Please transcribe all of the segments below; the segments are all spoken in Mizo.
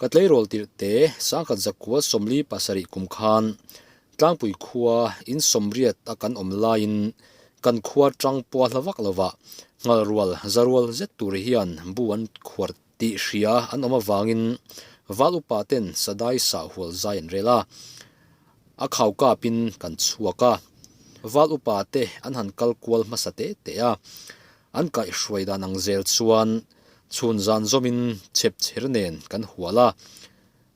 Ka tleirawl tirh te Sangkhat Zakkual Sawmli pasarih kum khan Tlangpui khua in sawmriat a kan awm laiin kan khua ṭang pua hla vak lova Hngalrual zarual zet tur hian bu an khuar tih hria an awm avangin Val upa ten sadai sah hual zai an rel a, a khau kap in kan chhuak a, Val upa te an han kal kual hmasa teh teh a, an kaih hruai dan ang zel chuan Chhun zan zawmin chep chher nen kan hual a,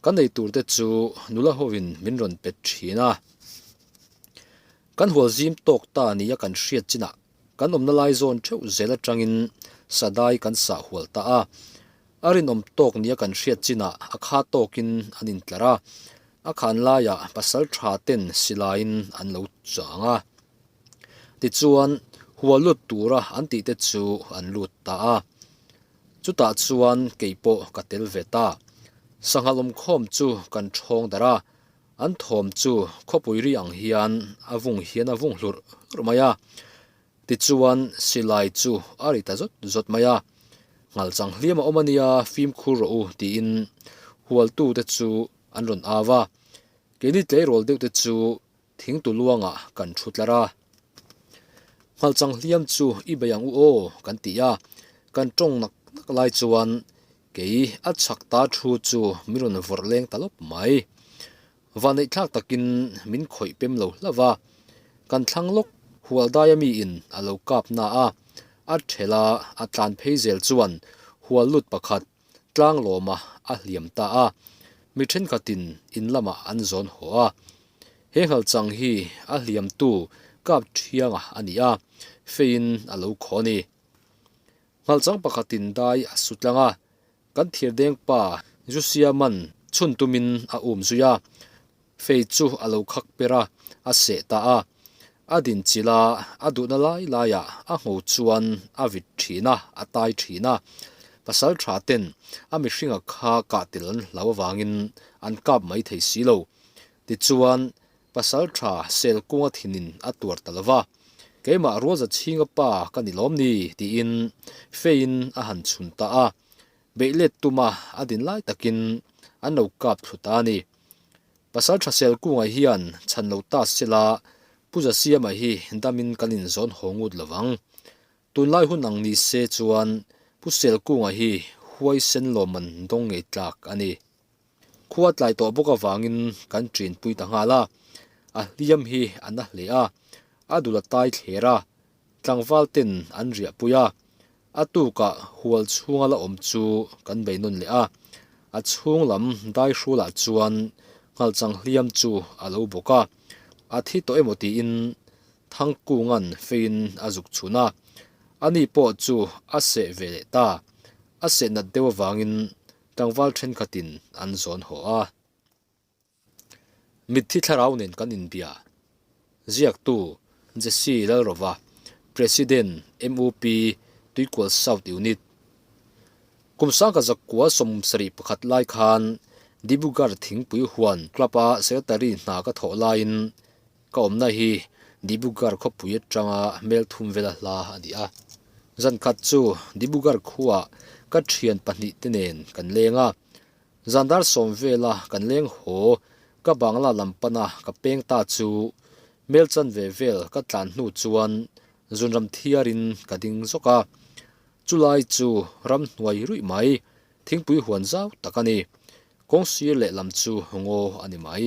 kan nei tur te chu nula hovin min rawn pet thin a. Kan hual zim tawk ta nia kan hriat chinah kan awmna lai zawn theuh zel atangin sadai kan sah hual ta a. A rinawm tawk nia kan hriat chinah a kha tawkin an intlar a, a khan laiah pasal tha ten silaiin an lo chang a. Tichuan, hualut tura an tih te chu an lut ta a. Chutah chuan kei pawh ka tel ve ta. Sangha lawmkhawm chu kan ṭhawng darh a, an thawm chu khawpui ri ang hian a vung hian a vung hlurh hlurh mai a. Tichuan, silai chu a ri ta zawt zawt mai a. Ngalchang hliam a awm a nia, fimkhur rawh u tiin hualtute chu an rawn au a. Keini tleirawl deuhte chu Thing tu luangah kan thu tlar a. Hmalchang hliam chu i bei ang u aw kan ti a, kan tawng nak nak lai chuan kei a chhak ta thu chu min rawn vawrh leng ta lawp mai. Vaneihthlak takin min khawih pem lo hlauh a, kan thlang lawk hual daia mi in a lo kap na a, a thela a tlan phei zel chuan hual lut pakhat tlang lawma a hliam ta a, mi thenkhatin in lamah an zawn haw a. He Nghalchang hi a hliamtu kap thianga a ni a, feiin a lo khaw a ni. Nghalchang pakhatin dai a su tlang a, kan thirdeng pa Jusiaman chhun tumin a um zui a, Faith chu a lo khak per a, a seh ta a, a dinchilh a, a duhna lai laiah a ngo chuan a vit ṭhin a, a tai ṭhin a. Pasal ṭha ten a mihringa kha kah tel an hlau avangin an kap mai thei si lo. Tichuan, pasal ṭha sel kunga thinin a tuar ta lova, Keimah rualza chhinga pa ka ni lawm ni? tiin Faith-in a han chhun ta a. Beih let tuma a din lai takin an lo kap thlu ta a ni. Pasal tha sel kungah hian chhan lo ta se la, Pu Za Siama hi damin kan inzawn haw ngut lo vang. Tunlai hun ang ni se chuan Pu Sel Kunga hi huai sen lawmman dawng ngei tlak a ni. Khua tlai tawh bawk avangin kan ṭinpui ta nghal a, a hliam hi a na hle a, a dul a tai thler a, tlangval ten an riahpui a, a tukah hual chhunga la awm chu kan bei nawn leh a, a chhung lam daihrualah chuan nghalchang hliam chu a lo bawk a, a thi tawh emaw tiin Thangkunga'n feiin a zuk chhun a, ani pawh chu a seh ve leh ta, a sehnat deuh avangin Tlangval thenkhatin an zawn haw a. Mitthi thlarau nen kan inbia, Ziaktu, Jesse Lalrova, President, MUP, Tuikual South Unit. Kum sangka zakua sawmum sarih pakhat lai khan Dibrugarh Thingpui Huan Club-a Secretary hna ka thawh laiin, Ka awmna hi Dibugarh khawpui atanga hmel thum vela hla a ni a, zan khat chu Dibugarh khuaa ka thian pahnih te nen kan leng a, zan dar sawm vela kan leng haw ka Bangla lam pana ka peng ta chu hmel chan ve vel ka tlan hnu chuan zun ram thiar in ka ding zawk a, chu lai chu ram hnuai ruih mai, thingpui huan zau tak a ni, kawng sir leh lam chu ngaw a ni mai.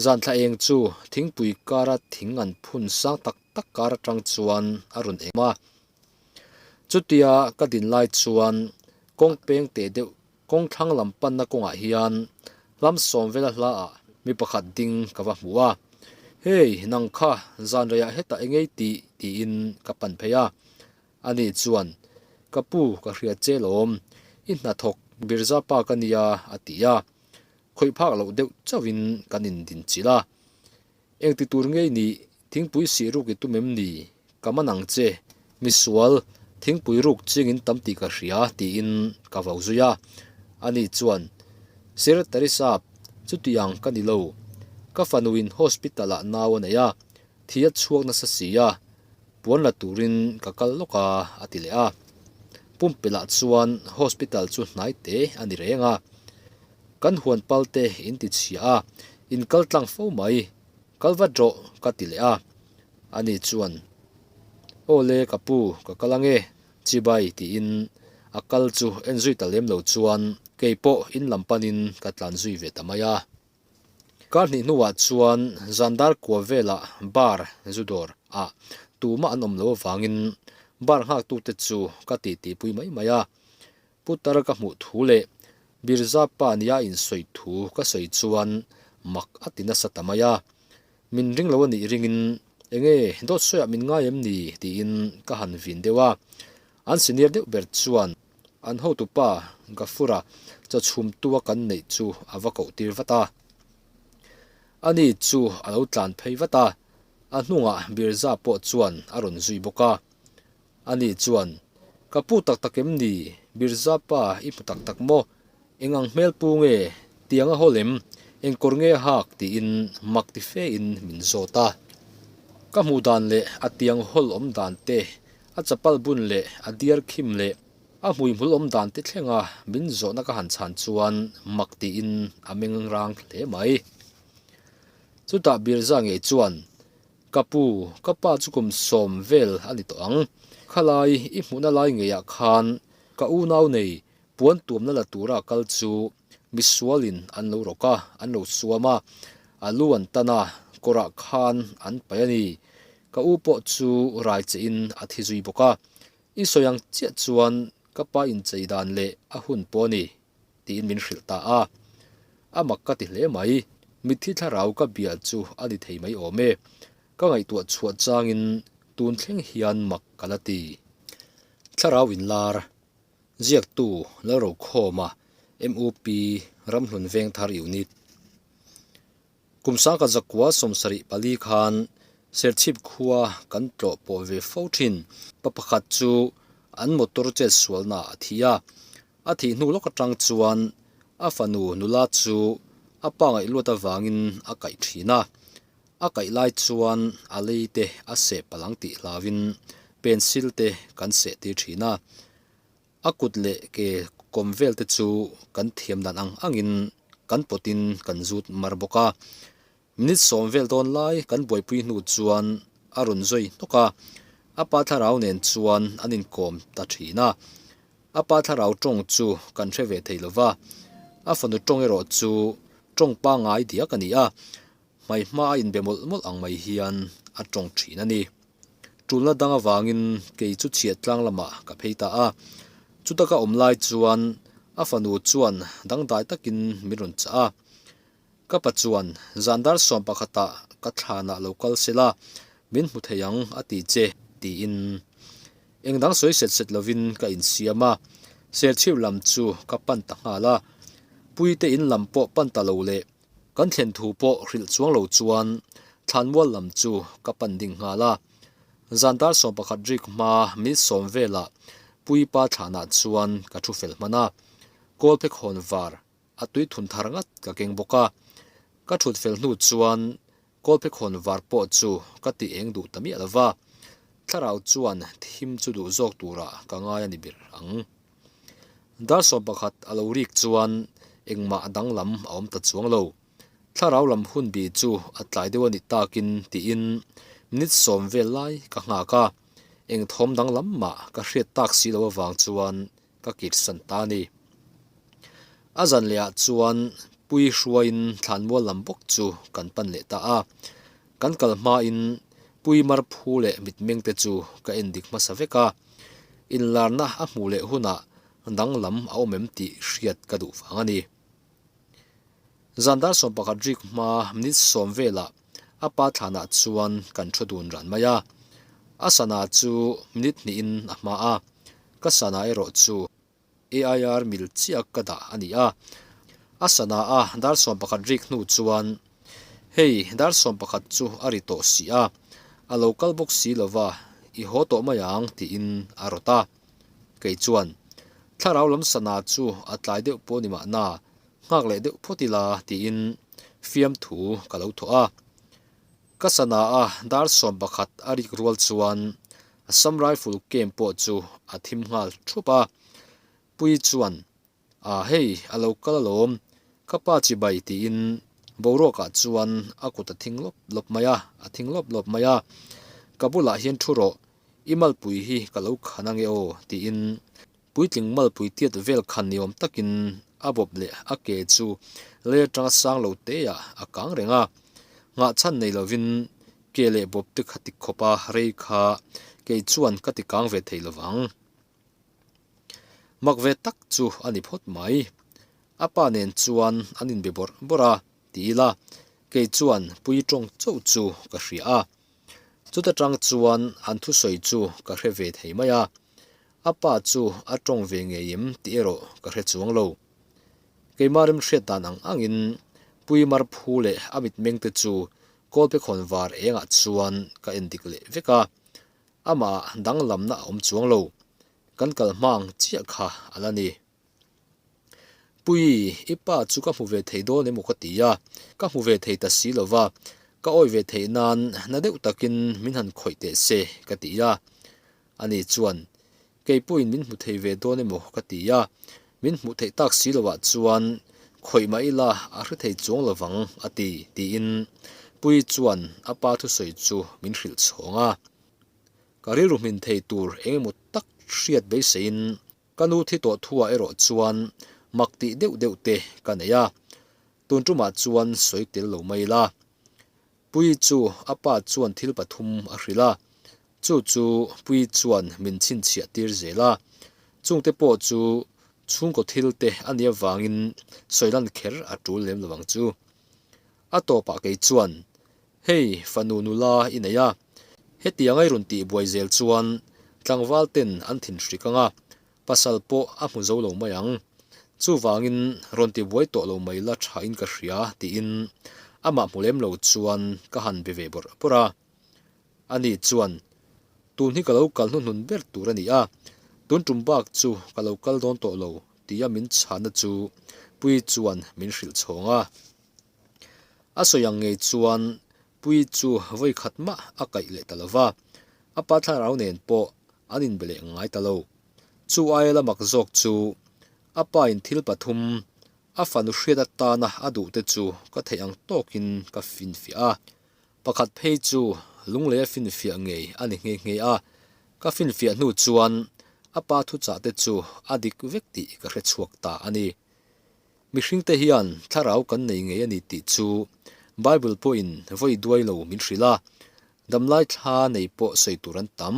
Zanthla eng chu thingpui kara thing an phun sang tak tak kar atang chuan a rawn em a. Chutia ka din lai chuan kawng peng teh deuh kawng thlang lam panna kawngah hian hlam sawmvela hlaah mi pakhat ding ka va hmu a. Hey, nang kha zanreiah heta e ngei tih? tiin ka pan phei a. Ani chuan, Ka pu, ka hria che lawm. I hnathawk Birzapa ka nia, a ti a. Khawih phak loh deuh chauh in kan in din chilh a, eng ti tur ngei ni, thingpui sih ruk i tum em ni? Ka man ang che, misual, thingpui ruk ching in tam tih ka hria ti in ka vau zui a, ani chuan, Sir Teresa, chutiang ka ni lo, ka fanu in hospital ah nau a nei a, Thi a chhuak nasa si a, puan la turin ka kal lawk a, a ti leh a. Pumpilah chuan hospital chu hnai te a ni reng a. Kan huan pal te in ti chhia a, in kal tlang fo mai, kal vat rawh ka ti leh a. Ani chuan, Aw le ka pu, ka kal ange, chibai tiin a kal chu en zui ta lem lo chuan kei pawh in lam panin ka tlan zui ve ta mai a. Kar hnih hnuah chuan Zandar kua velah bar, zu dawr, ah tumah an awm lo avangin bar nghaktute chu ka titipui mai mai a. Putar ka hmuh thu leh Birza pa nia insawi thu ka sawi chuan mak a ti nasa ta mai a. Min ring lo a nih ringin, Enge, Dawtsawiah min ngai em ni? tiin ka han vin deuh a. An senior deuh ber chuan an hotupa Gafura chawchhum tua kan neih chu a va koh tir vat a, a ni chu a lo tlan phei vat a, a hnungah Birza pawh chuan a rawn zui bawk a, a ni chuan, Ka pu tak tak em ni, Birza pa i hmu tak tak maw? Eng ang hmel pu nge, tiang a haw lem, eng kawr nge a hak tiin mak ti fe in min zawt a. Ka hmuh dan leh a tiang hawl awm dan te, a chapal bun leh a diar khim leh a hmuihmul awm dan te thlenga min zawhna ka han chhan chuan mak tiin a mengrang hle mai. Chutah Birza ngei chuan, Ka pu, ka pa chu kum sawm vel a ni tawh ang, khalai i hmuhna lai ngeiah khan ka unau nei Puan tuamna la tura kal chu mi sualin an lo rawk a, an lo suam a, a lu an tan a, kawrah khan an paih a ni. Ka u pawh chu rai che in a thi zui bawk a, i sawi ang chiah chuan ka pa inchei dan leh a hun pawh a ni tiin min hrilh ta a, a mak ka ti hle mai, mitthi thlarau ka bial chu a ni thei mai awm e, ka ngaihtuah chhuah changin tun thleng hian mak ka la ti. Thlarau inlar, Ziaktu lo ro khawm a, MUP ramhlun veng thar i unit. Kum sangka zakua sawmsarih pali khan Serchhip khua kan tlawh pawh ve fo thin. Pa pakhat chu an motor chet sualnaah a thi a, a thih hnu lawk atang chuan a fanu nula chu a pangaih luat avangin a kaih thin a. A kaih lai chuan a lei te a seh palang tih hlavin pencil te kan seh tir thin a. A kut leh ke kawm vel te chu kan thiam dan ang angin kan pawt in kan zut mar bawk a. Minute sawm vel dawn lai kan buaipui hnu chuan a rawn zawi hnawk a. A pa Thlarau nen chuan an inkawm ta thin a. A pa Thlarau tawng chu kan hre ve thei lova. A fanu tawng erawh chu tawng pangai diak a ni a. Hmai hma a inbe mawlh mawlh ang mai hian a tawng thin a ni. Tulna dang avangin kei chu chhiat tlang lamah ka phei ta a. Chutaka awm lai chuan a fanu chuan dangdai takin min rawn chah a. Ka pa chuan, Zan dar sawm pakhata ka thlanah lo kal se la, min hmu thei ang a ti che, tiin eng dang sawi set set lovin ka insiam a. Serchhip lam chu ka pan ta nghal a. Puitein lam pawh pan ta lo le, Kan thlen thu pawh hrilh chuang lo chuan Thlanmual lam chu ka pan ding nghal a. Zan dar sawm pakhat rik hma milsawm velah Puipa thlanah chuan ka thu fel hman a. Kawl phek hawn var a tui thun thar ngat ka keng bawk a. Ka thut fel hnu chuan Kawlphekhawn var pawh chu ka ti eng duh ta miah lo va, Thlarau chuan thim chu duh zawk turah ka ngai a ni ber ang. Dar sawm pakhat a lo rik chuan engmah danglam a awm ta chuang lo. Thlarau lam hun bi chu a tlai deuh a nih takin tiin minute sawm vel lai ka nghak a, engthawm danglam mah ka hriat tak si lo avang chuan ka kit san ta ni. A zan leh ah chuan pui hrua in thlan mual lam bawk chu kan pan leh ta a, kan kal hma in pui mar phu leh mit meng te chu ka en dik hmasa vek a, in lar na a hmuh leh hun ah dang lam a awm em tih hriat ka duh vang a ni. Zan dar sawm pakhat rik hma minute sawm velah a pa thlanah chuan kan thu dun ran mai a. A sana chu minute hnihin a hma a, ka sana erawh chu AIR mil chiak ka dah a ni a. A sana a dar sawm pakhat rik hnu chuan, Hei, dar sawm pakhat chu a ri tawh si a, a lo kal bawk si lova, i haw tawh mai ang, tiin a rawt a. Kei chuan, Thlarau lam sana chu a tlai deuh pawh ni mahna, nghak leh deuh phawt ila tiin fiamthu ka lo thawh a. Ka sanaa dar sawm pakhat a rik rual chuan Assam Rifle camp pawh chu a thim nghal thup a. Pui chuan, Aah hei, a lo kal alawm, ka pa chi bai, tiin boruakah chuan a kut a thing lawp lawp mai a, a thing lawp lawp mai a. Ka bulah hian thu rawh, i malpui hi ka lo khan a nge aw, tiin puitling malpui tiat vel khan ni awm takin a bawp leh a ke chu lei atanga sang lo teah a kang reng a. Nghahchhan nei lovin ke leh bawp te kha tik khawp a, rei kha kei chuan ka ti kang ve thei lovang. Mak ve tak chu a ni phawt mai. A pa nen chuan an inbe bawrh bawrh a, ti ila, kei chuan pui tawng chauh chu ka hria a. Chuta tang chuan an thusawi chu ka hre ve thei mai a, a pa chu a tawng ve ngei em tih erawh ka hre chuang lo. Keimah rimhriat dan ang angin Pui Marphu leh a mitmengte chu kawlpekhawn var engah chuan ka en dik leh vek a. Amah danglamna a awm chuang lo. Kan kal hmang chiah kha a la ni. Puii, i pa chu ka hmu ve thei dawn emaw ka ti a, ka hmu ve thei ta si lo va, ka awih ve theih nan na deuh takin min han khawih teh se ka ti a. Ani chuan, Keipuiin min hmu thei ve dawn emaw ka ti a, min hmuh theih tak si lo ah chuan khawih mah ila a hre thei chuang lo vang a ti, tiin Pui chuan a pa thusawi chu min hrilh chhawng a. Ka rilru hmin thei tur eng emaw tak hriat beiseiin ka nu thi tawh thu ah erawh chuan mak tih deuh deuh te ka nei a, tun tumah chuan sawi tel lo mai ila. Pui chu a pa chuan thil pathum a hrilh a, chu chu Pui chuan min chhinchhiah tir zel a. Chungte pawh chu chhungkaw thil te a nih avangin sawilan kher a tul lem lovang chu. A tawpah kei chuan, Hei, fanu nula i neih a, hetiang a i rawn tih buai zel chuan tlangval ten an thinhrik ang a, Pasal pawh a hmu zo lo mai ang. Chuvangin rawn ti buai tawh lo mai la tha in ka hria, tiin amah hmu lem lo chuan ka han be ve bawrh bawrh a. Ani chuan, Tun hi ka lo kal hnuhnun ber tur a ni a, tun tum bak chu ka lo kal dawn tawh lo, tia min chhahna chu Puii chuan min hrilh chhawng a. A sawi ang ngei chuan Pui chu vawi khat mah a kaih leh ta lova, a pa thlarau nen pawh an inbe leh ngai ta lo. Chu aia la mak zawk chu a pain thil pathum a fanu hriat atana a duh te chu ka theih ang tawkin ka finfiah a. Pakhat phei chu lunglei a finfiah ngei a ni nghe nghe a, ka finfiah hnu chuan a pa thuchah te chu a dik vek tih ka hre chhuak ta a ni. Mihringte hian thlarau kan nei ngei a ni tih chu Bible pawhin vawi duai lo min hrilh a, damlai thla nei pawh sawi tur an tam.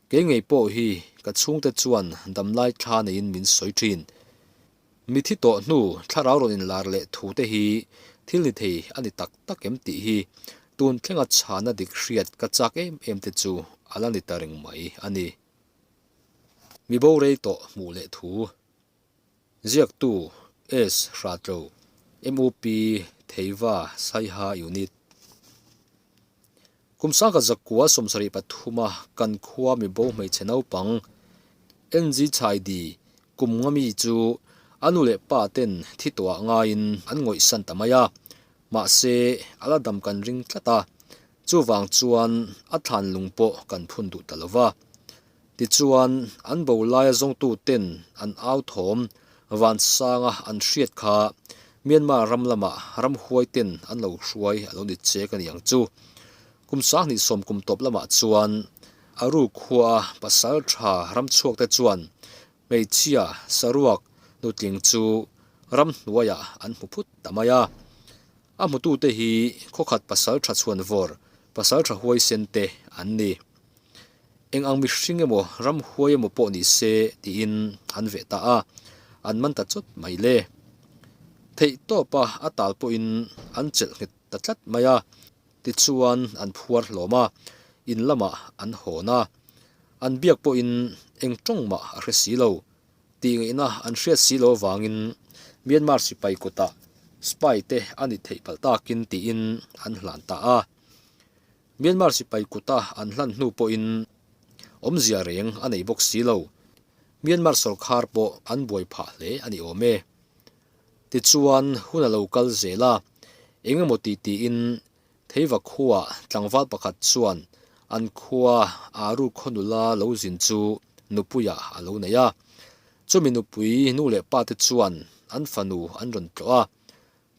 Kei ngei pawh hi ka chhungte chuan damlai thla neiin min sawi thin. Mithi tawh hnu thlarau rawn inlar leh thu te hi thil ni thei a ni tak tak em tih hi tun thlenga chhana dik hriat ka chak em em te chu a la ni ta reng mai a ni. Mibo rei tawh hmuh leh thu Ziaktu, Ace Hratlo, MUP Theiva Saiha Unit Kum sangka zakua sawm sarih pathuma kan khua mibo hmeichhe naupang NG Chaidi kum nga mi chu a nu leh pa ten thi tuah ngaiin an ngawih san ta mai a, mahse a la dam kan ring tlat a, chuvang chuan a thlanlung pawh kan phun duh ta lo va, Tichuan, an bo laia zawngtu ten an au thawm vansanga an hriat kha Myanmar ram lamah ramhuai ten an lo hruai a lo ni che ka ni ang chu. Kum Sanghnih sawm kum tawp lamah chuan Aru khua a pasal tha ramchhuak te chuan hmeichhia Saruak nutling chu ram hnuaiah an hmu phut ta mai a. A hmutute hi khawkhat pasal tha chhuan vawr, pasal tha huaisen te an ni. Eng ang mihring emaw ram huai emaw pawh ni se tiin an veh ta a, an man ta chawt mai le. Theih tawpa a tal pawhin an chelh nghet ta tlat mai a, tichuan an phuar hlawm a, in lamah an hawn a, an biak pawhin eng tawng mah a hre si lo tih ngaihna an hriat si lo vangin Myanmar sipai kutah spy te a ni theih palh takin tiin an hlan ta a. Myanmar sipai kuta an hlan hnu pawhin awmzia reng a nei bawk si lo, Myanmar sawrkhar pawh an buai phah hle a ni awm e. Tichuan hun a lo kal zel a, eng emaw tih tiin Theiva khua tlangval pakhat chuan an khua aa ru khaw nula lo zin chu nupuia a lo nei a. Chumi nupui nu leh pa te chuan an fanu an rawn tlawh a,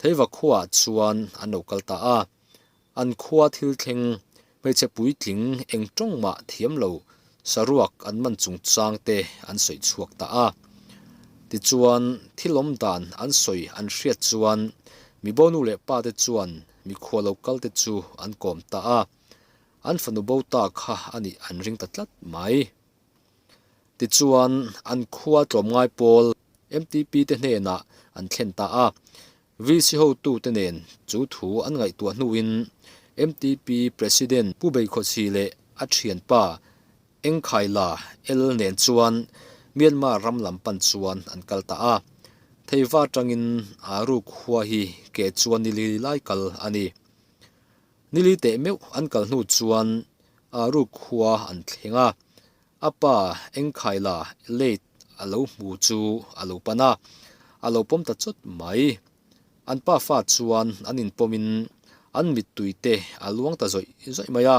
Theiva khua chuan an lo kal ta a, An khua thil thleng hmeichhe puitling eng tawng mah thiam lo saruak an man chungchang te an sawi chhuak ta a. Tichuan thil awm dan an sawi an hriat chuan mibonu leh pa te chuan mikhua lo kal te chu an kawm ta a, an fanu bo ta kha a nih an ring ta tlat mai. Tichuan an khua tlawm ngai pawl mtp te hnenah an thlen ta a. VC hotute nen chu thu an ngaihtuah hnuin mtp President Pu Beikawsi leh a thianpa Eng Khai La El nen chuan Myanmar ram lam pan chuan an kal ta a. Theiva atangin aa ruk hua hi ke chuan nili lai kal a ni. Nili teh meuh an kal hnu chuan aa ruk hua an thleng a. A pa engkhai la late a lo hmu chu a lo pan a, a lo pawm ta chawt mai. An pa fa chuan an inpawmin an mittui te a luang ta zawih zawih mai a,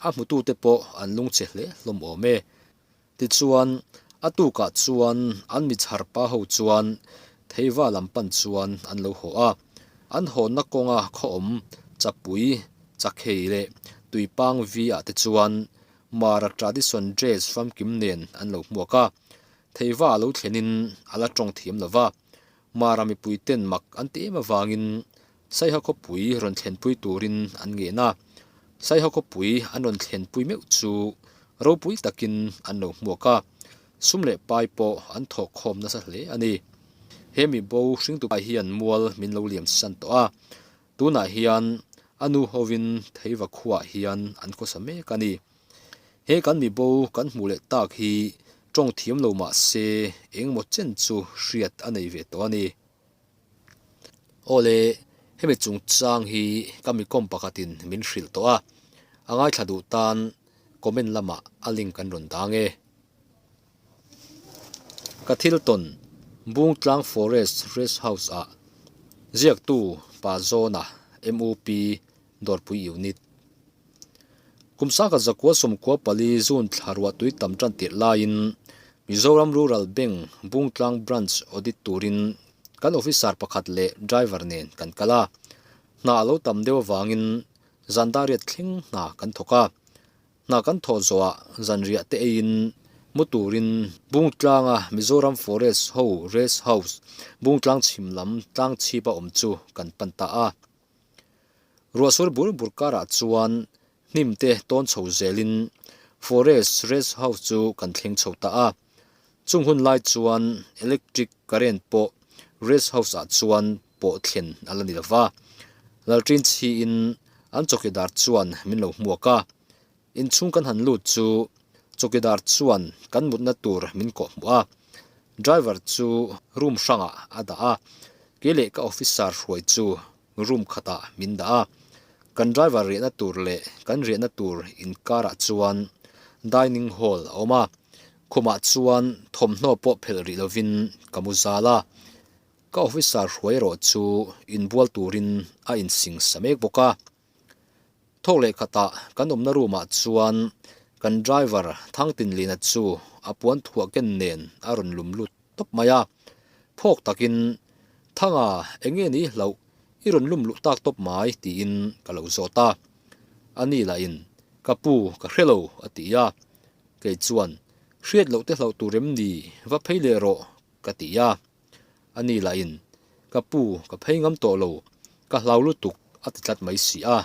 a hmutu te pawh an lung che hle hlawm awm e. Tichuan, a tukah chuan an michhar pa ho chuan Theiva lam pan chuan an lo hawh a, an hawnna kawnga khawawm, chapui, chakhei leh tuipang vi ah te chuan Mara tradition dress famkim nen an lo hmuak a, theiva a lo thlenin a la tawng thiam lo va. Mara mipui ten mak an ti em avangin Saiha khawpui rawn thlenpui turin an ngen a. Saiha khawpui an rawn thlenpui meuh chu ropui takin an lo hmuak a, sum leh pai pawh an thawk khawm nasa hle a ni. He mibo hringtupa hian mual min lo liam san tawh a, Tunah hian a nu hovin Theiva khuaah hian an khawsa mek a ni. He kan mibo kan hmuh leh tak hi tawng thiam lo mah se engmaw chen chu hriat a nei ve tawh a ni. Aw le, hemi chungchang hi ka mikawm pakhatin min hrilh tawh a, a ngaithla duh tan comment lamah a link kan rawn dang e. Ka thil tawn Bungtlang Forest Rest House ah ziaktu Pa Zona, MUP, Dawrpui Unit. Kum sangkhat zakua sawmkua pali June thla ruahtui tam tan tirh laiin Mizoram Rural Bank Bungtlang Branch Audit turin kan Officer pakhat leh Driver nen kan kal a. Hna a lo tam deuh avangin Zandariat thleng hna kan thawk a. Hna kan thawh zawhah zanriah te eiin mu turin Bungtlanga Mizoram Forest ho Rest House Bungtlang chhim lam tlang chhipa awm chu kan pan ta a. Ruahsur bur bur karah chuan hnim te tawn chho zelin Forest Rest House chu kan thleng chho ta a. Chung hun lai chuan electric current pawh Rest House ah chuan pawh thlen a la ni lo va, Lalṭin chhi in an chawkidar chuan min lo hmuak a, inchhung kan han lut chu chawkidar chuan kan mutna tur min kawh hmu a, driver chu room hrangah a dah a, ke leh ka officer hruai chu room khatah min dah a, kan driver riahna tur leh kan riahna tur inkarah chuan dining hall a awm a, khumah chuan thawmhnaw pawh phelh rih lovin ka mu zal a, Ka officer hruai erawh chu inbual turin a insingsa mek bawk a. Thawk leh khatah kan awmna roomah chuan kan driver Thang Tin Lina chu a puan thuah ken nen a rawn lum lut tawp mai a. Phawk takin, Thanga, eng nge ni hlauh, i rawn lum luh tak tawp mai, tiin ka lo zawt a. A ni lahin, Ka pu, ka hre lo, a ti a. Kei chuan, Hriat loh te hlauh tur em ni, va phei leh rawh, ka ti a. a nih lahin, Ka pu, ka phei ngam tawh lo, ka hlau lutuk a ti tlat mai si a.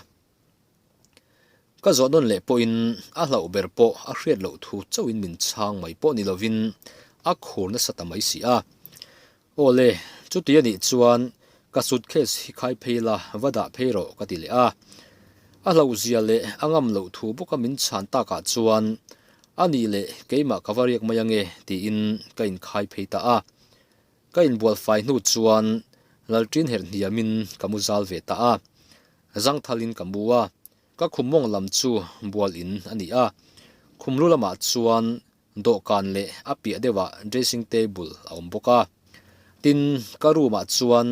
Ka zawh dawn leh pawhin a hlauh ber pawh a hriat loh thu chauhin min chhang mai pawh ni lovin a khur nasa ta mai si a. Aw le, chuti a nih chuan ka suitcase hi khai phei la, va dah phei rawh ka ti leh a. A hlauh zia leh a ngam loh thu bawka min chhan takah chuan A nih leh, keimah ka va riak mai ange, tiin ka inkhai phei ta a. Ka inbualfai hnu chuan Lalṭin herh hniamin ka mu zal ve ta a. Zangthalin ka mu a, ka khum mawng lam chu bual in a ni a. Khum lu lamah chuan dawhkan leh a piah deuhah dressing table a awm bawk a. Tin, ka room-ah chuan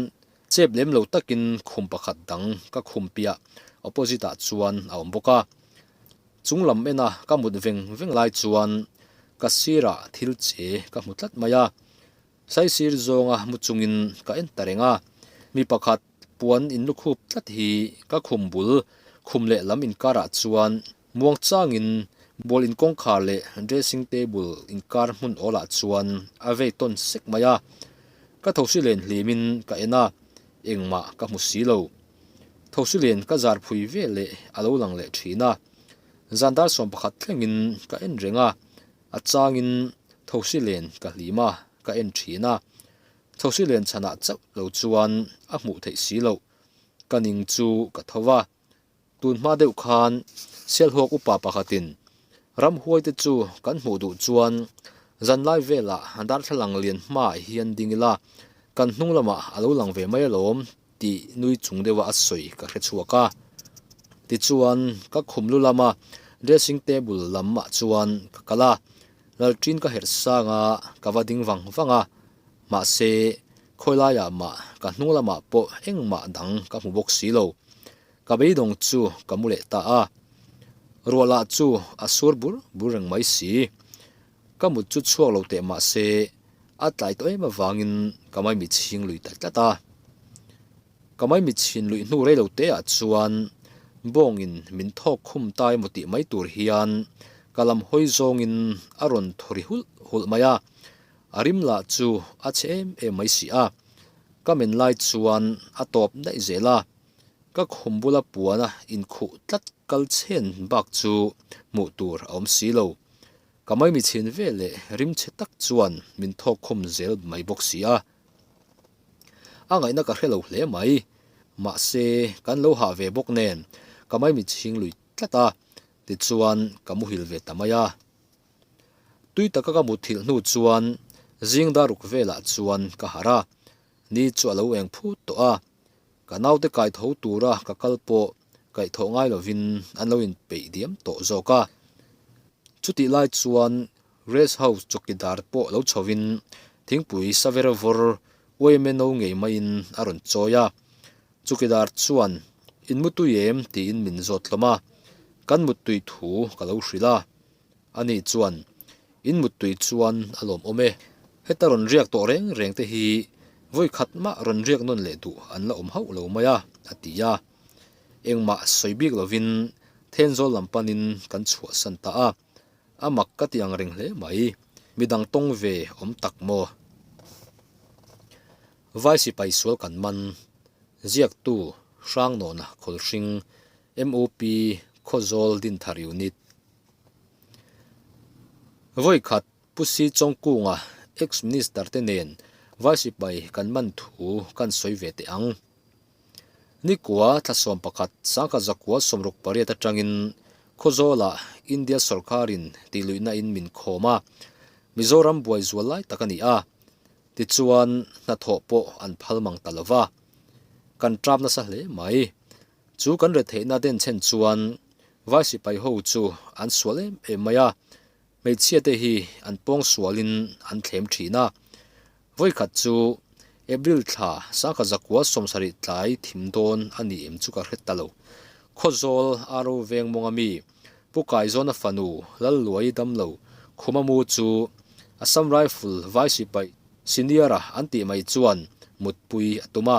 chep lem lo takin khum pakhat dang ka khum piah opposite-ah chuan a awm bawk a. Chung lam ena ka mut veng veng lai chuan ka sirah thil che ka hmu tlat mai a, saisir zawnga mu chungin ka en ta reng a. Mi pakhat puan in lukhûp tlat hi ka khum bul khum leh lam inkarah chuan muang changin ball in kawngkhar leh dressing table inkar hmun awlah chuan a vei tawn sek mai a. Ka thosi len hlim in ka en a, engmah ka hmu si lo. Thausulian ka zar phui vel leh a lo lang leh thin a, zan dar sawm pakhat thlengin ka en reng a, a changin Thausulian ka hlim a, ka en thin a, Thausulian chhanah chauh lo chuan a hmuh theih si loh, ka ning chu ka tho va, tunhma deuh khan Sialhawk upa pakhatin ramhuai te chu kan hmuh duh chuan zanlai velah darthlalang lian hmaah hian ding ila kan hnung lamah a lo lang ve mai alawm. tih nui chung deuha a sawi ka hre chhuak a, tichuan ka khum lu lama dressing table lamah chuan ka kal a, Lalṭin ka herh sanga ka va ding vang vang a, mahse khawilaia mah ka hnung lamah pawh engmah dang ka hmu bawk si lo, ka beidawng chu ka mu leh ta a, rualah chu a sur bur bur reng mai si. Ka mut chu chhuak lo teh mah se, a tlai tawh em avangin ka mai mit ching lui tlat tlat a. Ka mai mit chhin luih hnu rei lo teah chuan bawngin min thawk khum ta emaw tih mai tur hian ka lam hawi zawngin a rawn thaw ri hulh hulh mai a. A rim lah chu a che em em mai si a, ka men lai chuan a tawp daih zel a. Ka khum bula puana inkhuh tlat kal chhen bak chu hmuh tur a awm si lo. Ka maimi chhin vel leh rim che tak chuan min thawk khum zel mai bawk si a. A ngaihna ka hre lo hle mai. Mahse, kan lo hah ve bawk nen ka maimi ching lui tlat a, tichuan ka muhil ve ta mai a. Tui taka ka muthilh hnu chuan zingdaruk velah chuan ka harh a, ni chu a lo eng phut tawh a. Ka naute kai tho tura ka kal pawh kaih thawh ngai lovin an lo inpeih diam tawh zawk a. Chutih lai chuan Rest House chawkidar pawh lo chhoin thingpui sa ver vawr uai meno ngei maiin a rawn chawi a. Chukidar chuan, In mutui em? tiin min zawt hlawm a, kan mutui thu ka lo hrilh a. A nih chuan, In mut tui chuan a lawm awm e. Heta rawn riak tawh reng reng te hi vawi khat mah rawn riak nawn leh duh an la awm hauh lo mai a, a ti a. Engmah sawi bik lovin Thenzawl lam panin kan chhuah san ta a, a mak ka tih ang reng hle mai. Midang tawng ve awm tak maw? Vai sipai sual kan man ziaktu Hrangnawnah Khawlhring, MOP, Khawzawl Dinthar Unit, Vawikhat Pu Hri Chawngkunga ex minister te nen Vai Sipai kan man thu kan sawi ve teh ang. Nikua thlasawm pakhat Sangkhat Zakua sawmruk pariat atangin Khawzawla India sawrkarin tihluihna in min khawm a, Mizoram buai zual lai tak a ni a, tichuan hnathawh pawh an phal mang ta lova, kan ṭap nasa hle mai. Chu kan retheihna den chhen chuan vai sipai ho chu an sual em em mai a, hmeichhia te hi an pawng sual in an thlem thin a. Vawi khat chu April thla sangkhat zakua sawm sarih tlai thim dawn a ni em chu ka hre ta lo. Khawzawl a ro veng mawnga mi Pu Kaizawn-a fanu Lalluai Damlo Khumamu chu Assam Rifle vai sipai senior-a an tih mai chuan mutpui a tum a,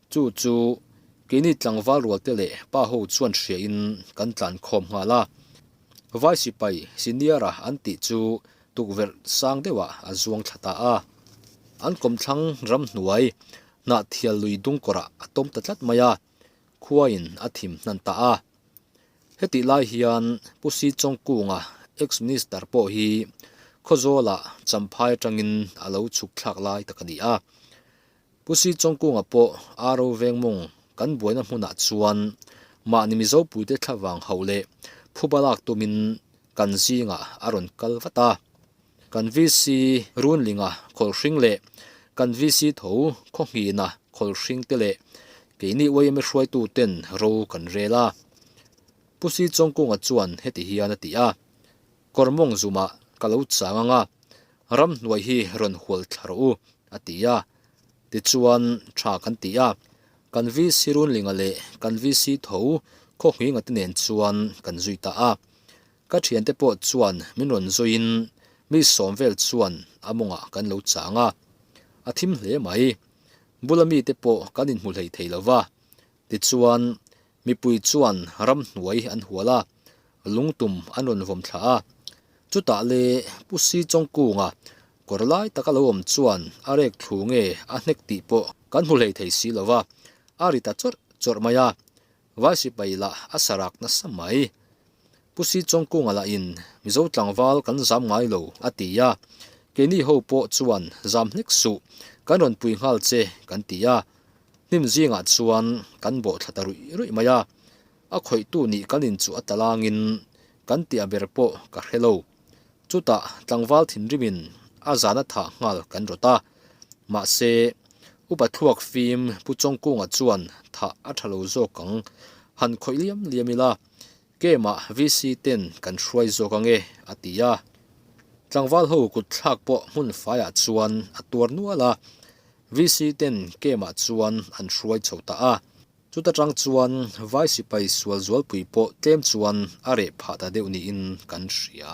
Chu chu keini tlangval rualte leh pa ho chuan hriain kan tlan khawm nghal a, Vai Sipai Senior a an tih chu tukverh sang deuhah a zuang thla ta a. An kawmthlang ramhnuai hnah thial lui dung kawrah a tawm ta tlat mai a, khuain a thim hnan ta a. Heti lai hian Pu Si Chawng Kunga Ex Minister pawh hi khaw zawlah champhai atangin a lo chhuk thlak lai tak a ni a. Pu Sii Chongkunga pawh aa ro veng mawng kan buaina hmunah chuan mahni Mizo puite thla vang hauh leh phu balak tumin kan zingah a rawn kal vat a, kan VC Runlinga khawlhring leh kan VC Tho Khawhnghina khawlhring te leh keini YMA hruaituten ro kan rel a, Pu Sii Chongkunga chuan heti hian a ti a, Kawrmawng zumah ka lo chang anga, ram hnuai hi rawn hual thla rawh u, a ti a. Tichuan, tha kan ti a, kan VC Runlinga leh kan VC Tho Khawnghinga te nen chuan kan zui ta a. Ka thiante pawh chuan min rawn zawiin mi sawm vel chuan a mawngah kan lo chang a, a thim hle mai. Bula mite pawh kan inhmuhleih thei lo va, tichuan Mipui chuan ram hnuai an hual a, lungtum an rawn vawm thla a. Chutah le Pu Si Chawng Kunga kawr lai taka lo awm chuan a rek thlu nge a hnek tih pawh kan hmu hlei thei si lova, a ri ta chawrh chawrh mai a, Vai Sipai lah a sa rak nasa mai. Pu Si Chawng Kunga lah in Mizo tlangval kan zam ngai lo a ti a, keini ho pawh chuan zam hnek suh, kan rawn pui nghal che kan ti a, Hnim zingah chuan kan bawhthla ta ruih ruih mai a, a khawihtu nih kan in chu a talangin kan tih a ber pawh ka hre lo. Chutah tlangval thinrimin a zana thah nghal kan rawt a, mahse upa thluak fim Pu Chawngkunga chuan thah a tha lo zawk ang, han khawih liam liam ila Game-a VC ten kan hruai zawk ang e, a ti a. Tlangval ho kut thlak pawh hmun faiah chuan a tuar nual a, VC ten game-a chuan an hruai chho ta a. Chuta tang chuan Vai Sipai Sual Zualpui pawh tlem chuan a reh phah ta deuh niin kan hria.